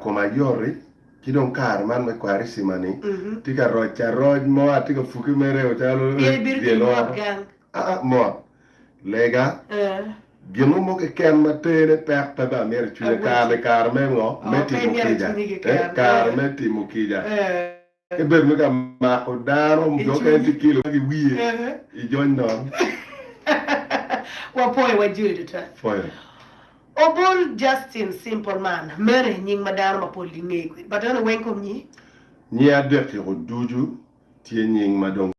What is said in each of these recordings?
Koma yoti ci dong kare man me Kwarisima ni tye ka roc aroc mo atye ka puke mere calo dyel oro aa mot lega gin mo mo keken ma tene pek pe bene amyero cwinya kare ni kare me ngo? Me timo kica kare me timo kica. Ebedo me ka mako dano jo okene tye kilo ma giwiye i jony nono. Wapoyo wa jwi adada. Poyo. Obol Justin Simple man mene e nying ma dano mapol gingeyo kwede but en oweng kom nyi. Nyi adek-ki ko ducu tye nying ma dong.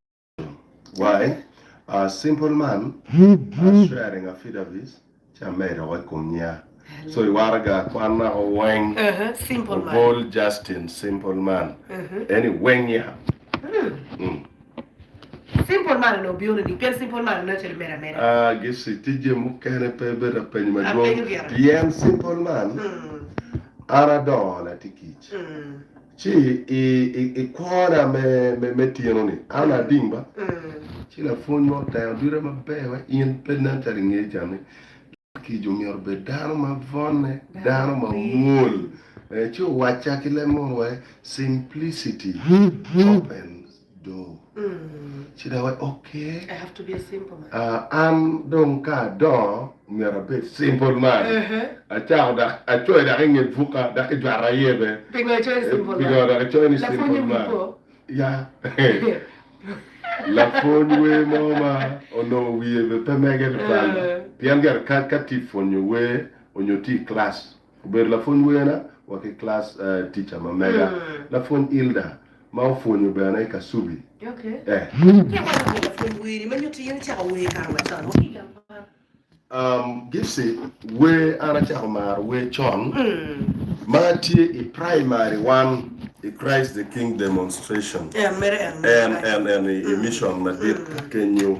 Why? A simple man as sharing affidavits ci amedo wa i kom nya. So i waraga kwan nako weng obol Justin simple man eni weng ya. Simple man onongo bino nining pien simple man aneno calo imedo ameda. Ah Gici tye jami mukene pe ibedo ka penyo madwong pien simple man an adongo nati kic. Ci i kwona me tyeno-ni, an ading ba, ci lapwony mo otero duta maber ma in pe inen calo ingeyo can ni, Dano kica omyero obed dano ma vonne, dano ma mwol. Ci owacca ki leb munu wai, Simplicity opens. An dong ka adongo, myero abed simple man. Acoyo dok i nge buka dok i jwata aye bene. Pingo icoyo ni simple man? Lapwony wi po? Ya. Lapwony wer mo ma onongo wiye bene pe mege tutwal pien gire ka tye ka pwonyo wer nyo tye i kilac. Obedo lapwony wena wa ki class teacher ma mega lapwony Ilda ma opwonyo bene i Kasubi eh. Um Gipsy wer an acako maro wer con ma atye i primary one i Christ the King Demonstration en en en i mission madit kenyu.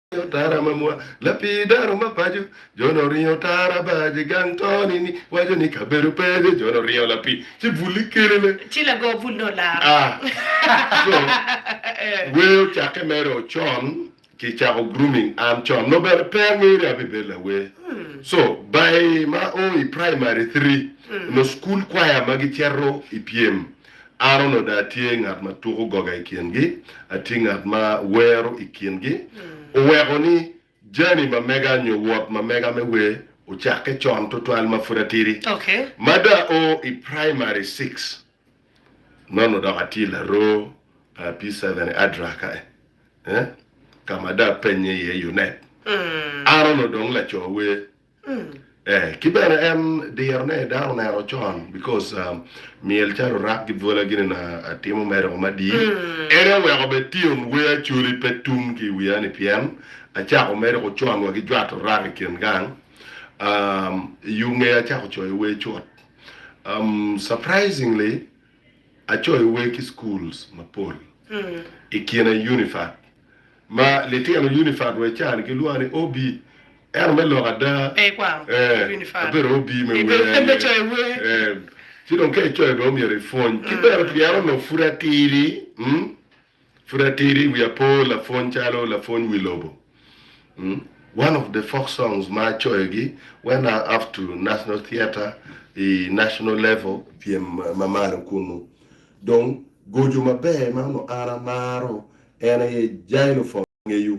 Tara ma mwa, lapii dano ma paco, Jone oringo tara bar je gang toni ni waco ni kabedo pe je Jone oringo lapii ci bul ikele ne. Ci lago bul ne olaro. A. Co. Wer ocakke mere o con ki cako grooming an con nongo bene pe angeyo ni abibedo lawer. Co. By ma o i primary three onongo school choir ma gicito i pyem Aron onongo dong atye ngat ma tuko goga i kingi, atye ngat ma wero i kingi. Oweko ni jami ma mega nyo wot ma mega me wer ocakke con twatwal ma pud atidi. Ma dong ao i praimari six, nongo dok atye laroo pi Seventh Adraka ka ma dong apennye iye Yunet. Aron onongo dong laco wer. Eeh ki bene en diro ne dano oneno con because myel calo orak ki bwola gini na atimo mere doko madi en aye oweko bene tyen wer Acholi pe tum ki iwiya ni pien acako mere doko con wa ki jwato orak i kin gang aah i yo nge acako coyo wer cut umm surprisingly Acoiwe ki schools mapol ikine Unifat ma litino Unifat wa ican gilwongo ni OB ento me lok ada abedo OB me wer aye ci dong ka icoyo dong myero ipwony ki bene pien onongo pud atidi. Pud atidi wiya po lapwony calo lapwony wi lobo umm one of the folk songs ma acoyo gi when I up to national theatre i national level pyem ma malo kunu dong goco maber ma onongo an amaro en aye xylophone. ngeyo.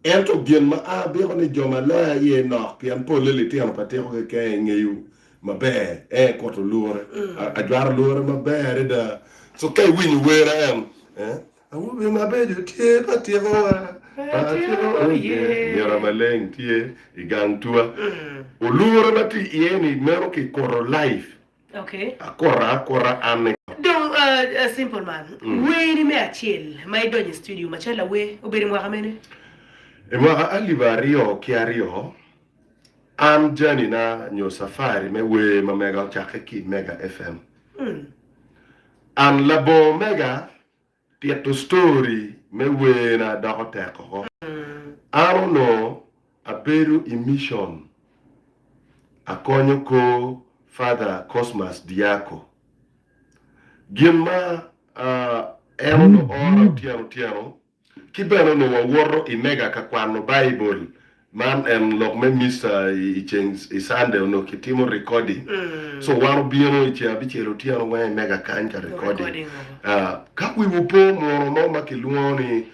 Ento gin ma abiko ni jo ma loya iye nok pien polle litino pa tiko keken i ngeyo maber ee kuto lure. Ajwato lure maber adada so ka iwinyo wera en ee Awobe mabeco tye pa tiko wa pa tiko wa oh yeah Myera maleng tye i gang tua olure ma tye iye ni meno ki kuto life. Akota akota an ega. Dong simple man. Weri me acel ma idonyo i studio macalo lawer obedo i mwaka mene? I mwaka alip aryo ki aryo, an janina nyo cafari me wer ma mega ocakke ki i Mega FM. An labongo mega Tito story me werna doko tek oko. An onongo abedo i mission akonyo kor Father Cosmas Diaco. Gin ma en onongo oora otyeno otyeno ki bene onongo wawoto i mega ka kwano Baibul Man en lok me missa i ceng i Sunday onongo kitimo recording so wan obino i ceng abicel otyeno weng i mega kany ka recording ka wiwu pe omwono mo ma kilwongo ni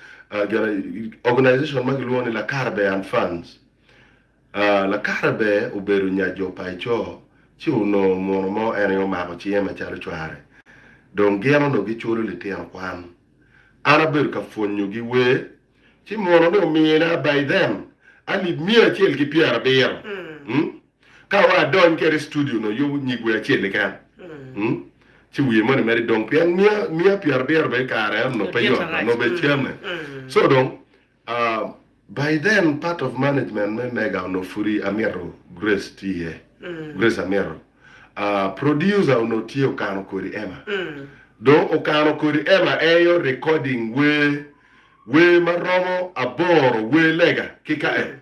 organization ma kilwongo ni Lakarabe and Funds Lakarabe obedo nya jo pa i co ci onongo omwono mo en aye omako cinge macalo cware dong gin onongo giculo litino kwan an abedo ka pwonyogi wer ci mono ni omina by then alip miya acel ki pyera abiro ka wa adony kede i studio no yubu nyig wer acel keken ci wiye moni mere dong pien miya miya pyera abiro bene kare eno no pe yot no be came so dong by then part of management me mega ono pudi amito grace tye iye grace amito producer ono tye okano kodi ema dong okano kodi ema eyo recording wer Wer ma romo aboro wer lega ki ka en,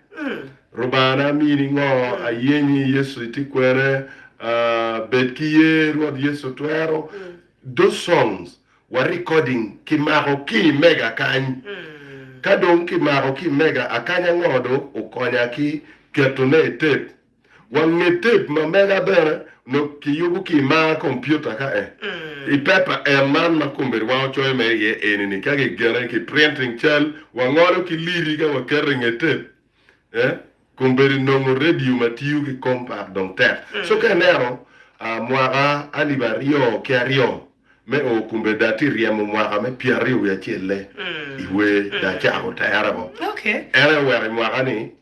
Rubana amini ngo, ayenyi Yesu itye kwene, aah, bed ki ye, Rwot Yesu twero, those songs wa recording ki mako ki i mega akany, ka dong ki mako ki i mega akanya ngo dong okonya ki keto ne i tape. Wange tep ma mega bene onongo kiyubo ki i mar kompiuta ka en i pepa en man ma kombedi wango coyo mere iye eni ni ka gigene ki printing cal wangolo ki liri ka waketo i nge tep eh kombedi nongo radio ma tiyo ki compact dong tek so ka ineno ah mwaka alip aryo ki aryo me o kombedi da ti ryemo mwaka me pyer aryo wiye acel-le i wer da cako tere woko en aye oweko i mwaka ni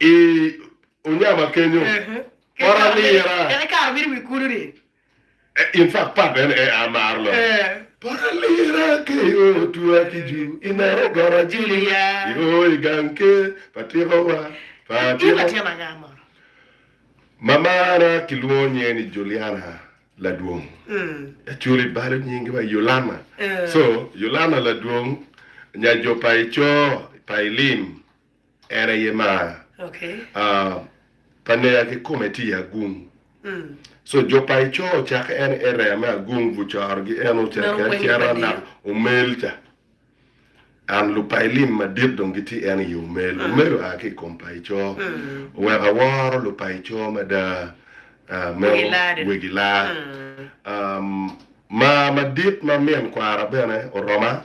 I onyama kenyo, pot alira. En aye kare obedo wi kulu ni. In fact part en aye amaro lok. Pot alira keyo otwa ki ju i nero goro Julia i o i gang ke pa tiko wa pa tiko. In latin anga mo? Mamana kilwongo nyinge ni Juliana Ladwong. Actually balo nyingi wa Yulana. So Yulana Ladwong nya jo pa i co pa i lim. En aye mar uh, pa nega ki kome tye i agung. So jo pa Icoo ocakke en area me agung vu coro gi en ocakke en cero anak Omel ca. And lub pa Ilim madit dong gitye en i Omel. Omel oa ki i kom pa Icoo. Oweko aworo lub pa Icoo mada uh, me Wegi Laa. Um, mar madit ma min kwara bene oroma.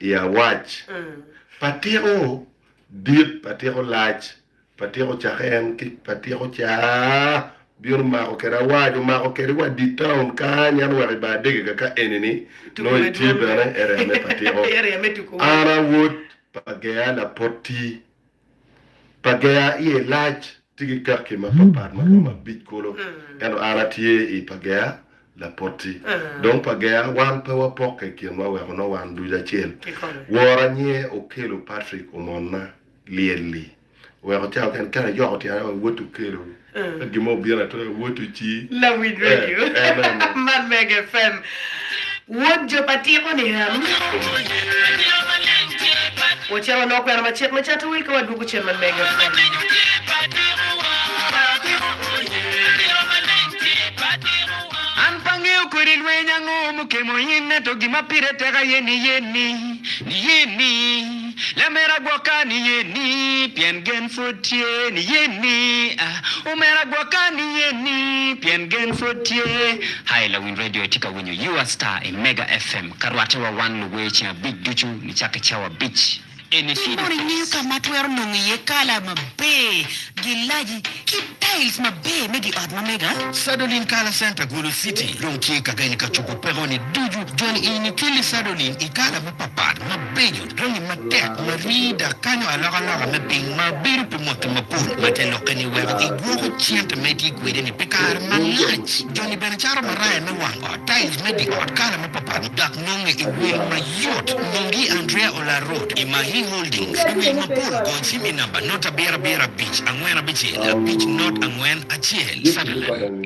i awac pa tiko dit, pa tiko lac, pa tiko cake en ki pa tiko ca bino mako kede awac, omako kede wa dit taun kany, ento wek i ba adege ka ka eni-ni nongo itye bene area me pa tiko. An awot pa gea lapoti Pagea iye lac tye ki kakki mapatpat ma romo abic kulu. Ento an atye i Pagea, lapoti. Dong Pagea wan pe wapokke i kinwa wek onongo wan ducu acel. Woro anyee Okello Patrick omonna lyel-li. Oweko cawa kene kene ayoko tyenna wa woti Okello. Ka gin mo obino atir aye wot ici. Lawiny radio man mega fm. Wod jo pa tiko ni en. Wacito wanongo kwena ma cik me cato wil ka wadwogo cen man mega fm. An pe angeyo kodi lweny ango mukemo in, ento gin ma pire tek aye ni ye ni, ni ye ni. Lamera gwoka niye ni, pien gen pwod tye niye ni, ah, omera gwoka niye ni, pien gen pwod tye. Hi lawiny radio itye ka winyo you are star i mega FM ka rwate wa wan luwer ceng abic ducu nicako i cawa abic eni Piny mono ingeyo ka ma twero nongo iye kala maber, gilaji, ki tiles maber me giot ma mega? Sadolin Kala Center Gulu City dong tye ka geny ka cobo peko ni ducu. Joni ini keli sadolin i kala mapapat ma. Penyo jami matek ma rii dok kanyo alokaloka me piny ma bedo pi mwaki mapol ma te lokke ni weko ki gwoko cente ma itye kwede ni pi kare malac. Joni bene caro maraya me wang ot, tiles me di ot, kala ma papal dok nonge i wil ma yot. Nongi Andrea Olarot i Mahi Holdings i wil mapol gony cim i namba not abiro abiro abic angwen abicel abic not angwen acel. Satellite.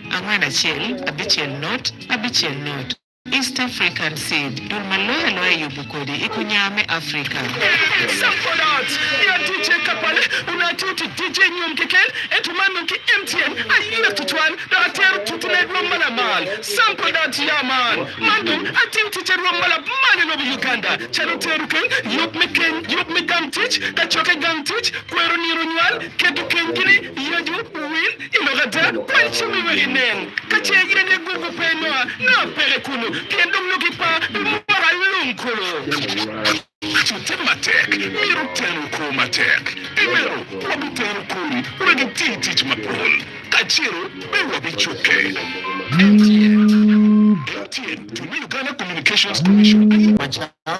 Angwen acel abicel not abicel not. East African seed, dul ma loyo aloya yubu kodi i kunya me Africa. Sample ads, Nya DJ Kapale onongo atiyo tic DJ nyom keken ento man dong ki MTN ayee tutwal dok atero tuti ne rwom ma lamal. Sample ads, Ya man, man dong atiyo tic arwom ma lamal i lobo Uganda calo tero keny, yub me keny, yub me gang tic, kacokke gang tic, kwero nino nywal, keto keny kini, yecu, wil, I lok ada, kwan cumi wek inen ka ce yen aye gugu pe Noa nongo peke kunu, pien dong nongo gipa pi mwaka alum kulu. Wutim matek, myero wutenu kwo matek, pi meno wabitero kodi wek iti tic mapol, kacelo pe wabicukke. MTN, MTN, tung me Uganda Communications Commission, aye.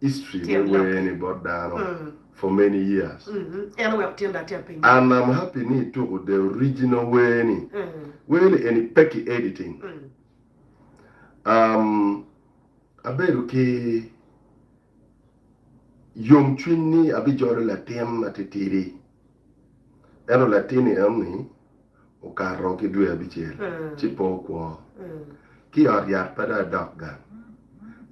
history me wer ni bot dano for many years and I'm happy ni ituko the original wer ni, wer ni eni pe ki editing um abedo ki yom cwiny ni abijolo latin matitidi ento latin ni eno ni Okato ki dwe abicel ci pe okwo. Ki i ot yat pe dong adok gang.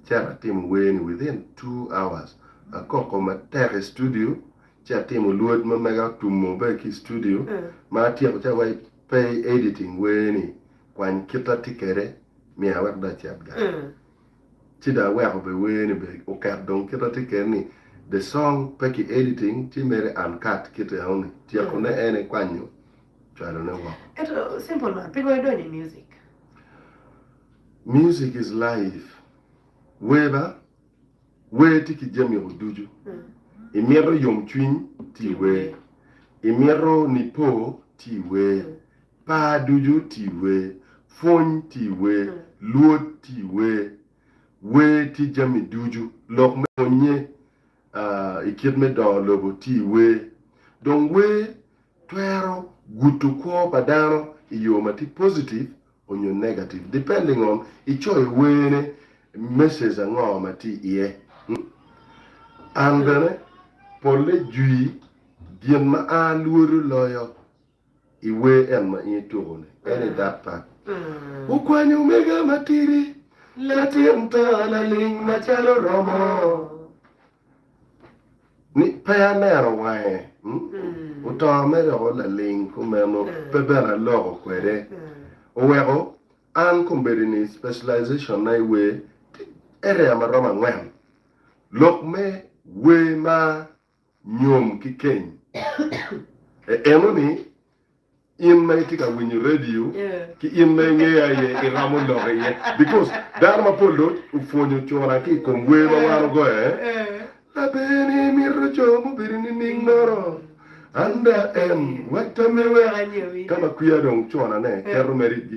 Cito atimo wer ni within two hours. Akoko matek i studio ci atimo lwod ma mega otumo bene ki i studio. Ma atyeko ci awaco pe i editing wer ni kwany kita tye kwede miya wek dong acit gang. ci dong aweko bene wer ni bene oket dong kit atye kene ni the song pe ki editing ci mere uncut kit enoni tyeko ne en aye kwanyo cwalo ne woko. Ento simple man pingo idonyo i music? Music is life wer ba wer tye ki jami o ducu imito yom cwiny tye iwer imito nipo tye iwer. Par ducu ti we, pwony ti we, lwod ti we, wer ki jami ducu, lok me pwonnye i kit me dongo lobo ti we. Dong wer twero gudo kwo pa dano i yo ma ti positive onyo negative depending on i coyo werne message ango ma ti iye. An bene pole jwi gin ma a lwodo loyo. I wer en ma in ituko-ni, en aye dok pat. Wukwanyo omega matidi, latin to laling macalo romo ni pe aneno wange. Oto me doko laling kumeno pe bene aloko kwede. Oweko an kombeddi ni specialization na i wer tye area maromo angwen. Lok me wer ma nyom ki keny. E eno ni, in ma itye ka winyo radio ki in ma ingeya aye iromo lok iye because dano mapol do opwonyo cura ki i kom wer ma wan ogoyo eh, Laber ni imito co mubedo nining nono an da en wek tamme wek ka ma kwiya dong cona ne keto mere i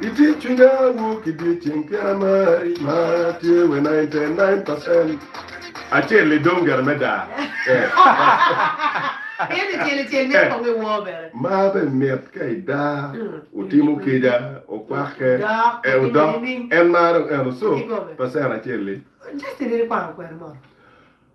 Itic cwinya wu ki dyeceng pien amari ma tye we 99 percent. Acel ni dong gene me daa ma be mit ka i daa otimo kica okwakke ee odok en maro eno so percent acel ni.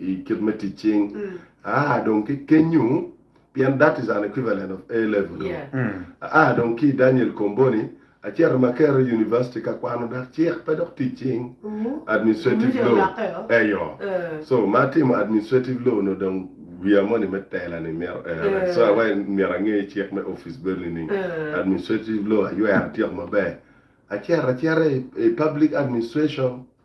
i kit me tic cing aa dong ki kenyu pien that is an equivalent of A level dong yeah. aa dong ki i Daniel Comboni acito Makerere University ka kwano dak cik pe dok tic cing administrative Miti law olakke o. eyo Eh. so ma atimo administrative law no dong wiya moni me tela ni myero erre Eh. so awaci myero ange cik me office bed nining Eh. administrative law aywero atyeko maber acito acita i i public administration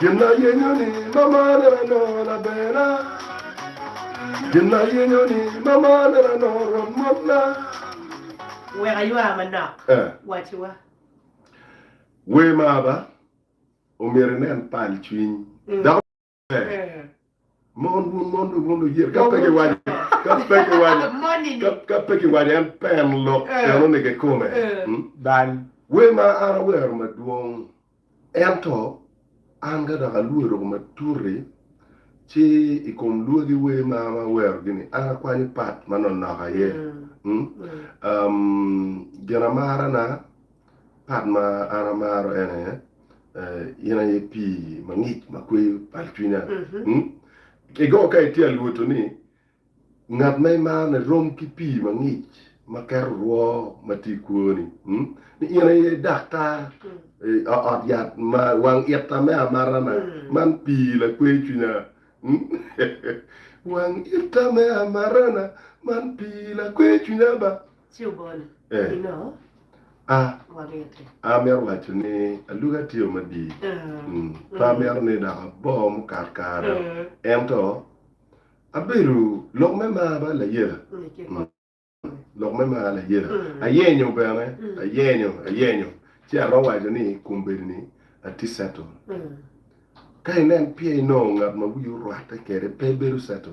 Gin ayenyoni ma malo anongo laberna, Gin ayenyoni ma malo anongo rwom motna. Wek aywa manok, waciwa. Wer ma Aba omyero inen pal cwiny. Mon wun mon dong wun luyil ka pe giwaco ka pe giwaco ka ka pe giwaco en pen lok eno ni gikome bal wer ma an awero madwong ento an ka dok alue ruko matuti ci i kom lwagi wer ma an awero gi ni an akwanyo pat ma nonok aye ginamarana Part ma an amaro ene in aye pii mangic ma kweyo bal cwinya. Kigo ka itye alwoto ni ngat ma imaro ni rom ki pii mangic ma keto rwo ma tye i kwoni. Ni in aye daktar ot yat ma wang ita me amata na. Man pii lakweyo cwinya. Wang ita me amata na man pii lakweyo cwinya ba. amito waco ni alugi atye madii pe amito ni dok abo mukat kare ento abedo lok me mar bene layela lok me mar layela ayenyo bene ayenyo ayenyo ci aromo waco ni i kom bedo ni atye cetle ka inen pye inongo ngat ma wiye orwatte kwede pe bedo cetle.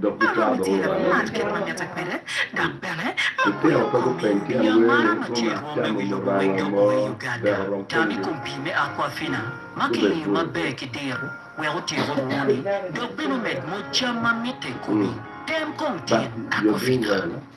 Dok gicako ciro kare ma romo nyo kit ma mitte kwede dok bene ma kweyo komi i yo mara ma ce rwomme wi lobo weng dok moyo i Uganda. Tam i kom pii me Aquafina ma kiliyo maber ki diro wek otyeko rwoni dok bene omed moc cam ma mitte i komi. Tem kong tit Aquafina.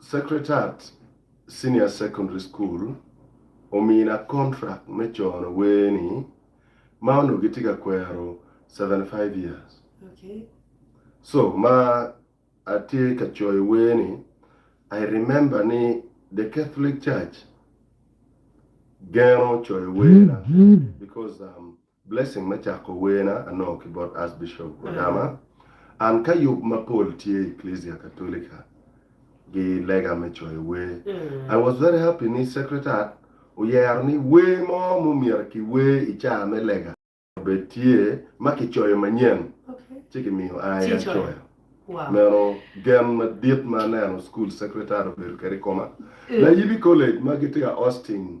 Secretariat Senior Secondary School omina contract me cono wer ni ma onongo gitye ka kwero seventy five years so ma atye ka coyo wer ni I remember ni the Catholic Church geno coyo werna because Blessing me cako werna anongo ki bot Archbishop Odama, An ka yub mapol tye i Eklezia Katolika gi lega me coyo wer. I was very happy ni Secretariat oyero ni wer mo ma omyero kiwer i caa me lega, obed tye ma kicoyo manyen ci kimiyo ai acoya. Meno gen madit ma aneno School Secretariat obedo kwede i koma. Layibi College ma gitye ka hosting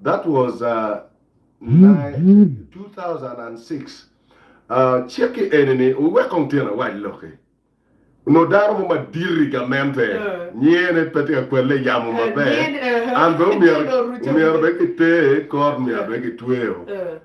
That was two thousand and six Cik-ki eni ni wuwek kong tyen awac lok-ki. Onongo dano mo madit i gamente nyiye ne pe tye ka kwelle yamo maber, an bene omyero bene kiter i kot, omyero bene kitweyo.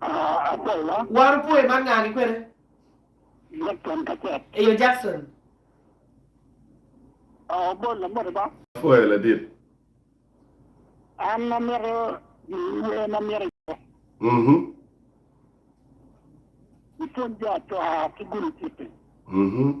Apolla. War opwoyo man ngani kwene? Jackson Kacek. Eyo Jackson. Oh bol na moti ba. Apwoyo ladit. An amito niye ma myero iye. Mhm. Ipwony jo acwaa ki gulu citi. Mhm.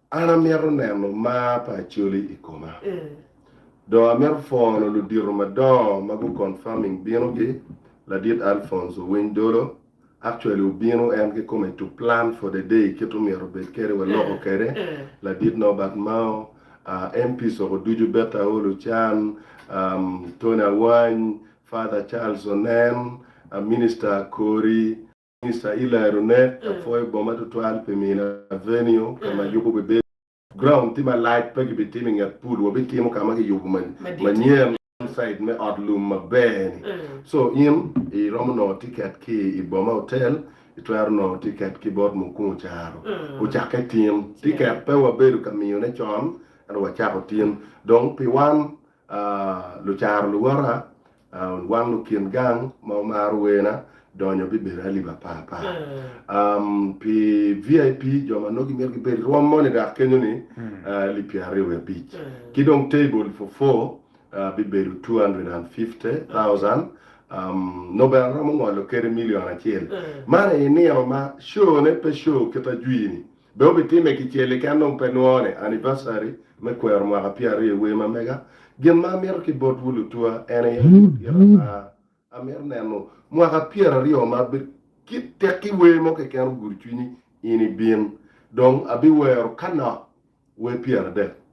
An amito neno mar pa Acholi i koma. Dong amito pwono ludito madongo ma gu confirming bino gi, Ladit Alphonse Owiny Dolo, actually obino en kikome to plan for the day kit omyero obed kede wa loko kede, Ladit Norbert Mao, MP Soko ducu Berta Aolo Can, Tony Awany, Father Charles Onen, Minister Akori, Mister Eli Ronet, apwoyo boma tutwal pi mino avenue ka ma yubo bibedo. Ground tye malac, pe gibitimo i nget pool, wabitimo ka ma kiyubo manyen, side me ot lum maber ni. So in iromo nongo ticket ki i boma hotel, itwero nongo ticket ki bot Mukungu Caro, ocakke tin. Ticket pe wabedo ka miyone con, ento wacako tin. Dong pi wan Lucaro luwota, wang lukin gang ma wumaro werna donyo bibedo alip apar par. Pi VIP, jo ma nongo gimito gibed rwom moni dok kenyo ni alip pyer aryo wiye abic. Ki dong table for four bibedo two hundred and fifty thousand, nongo bene aromo ngolo kede million acel. Man aye nino ma show ne pe show kit ajwi ni. Dong wubitime kicel keken nongo pe nwone, anivacari me kwero mwaka pyeraryo i wer ma mega. Gin ma amito ki botwu lutua en aye ni wupyet ata. Amito neno mwaka pyeraryo ma be kit tekki wer mo keken ogudo cwinyi in ibin. Dong abiwero ka nok wer pyeradek.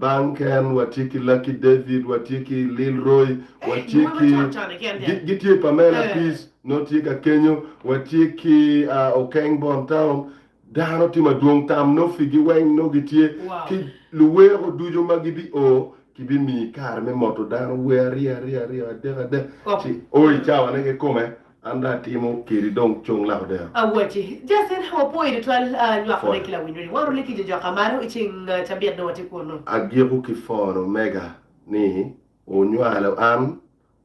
Bang ken watye ki Lucky David, watye ki Lil Roy, watye ki gitye Pamela Peace nongo tye ka kenyo, watye ki Okeng Bon Town, dano tye madwong tam nongo pigi weng nongo gitye ki luweko ducu ma gibi o kibimiyi kare me moto dano wer aryo aryo aryo adek adek ci o i cawane kikome. An dong atimo kedi dong cung lak odero. Awaci, Justin, wapwoyi tutwal nywako lek ki lawinyoni. Waro lek ki jo joka malo i ceng cabit dong watye kunu. Agiko ki phone omega ni onywalo an,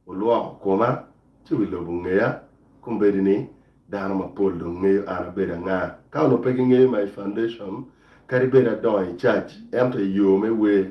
olwoko koma ci wi lobo ongeya. Kombeddi ni dano mapol dong ngeyo an abedo anga. Ka onongo pe gingeyo my foundation kadi bed adongo i church ento i yo me wer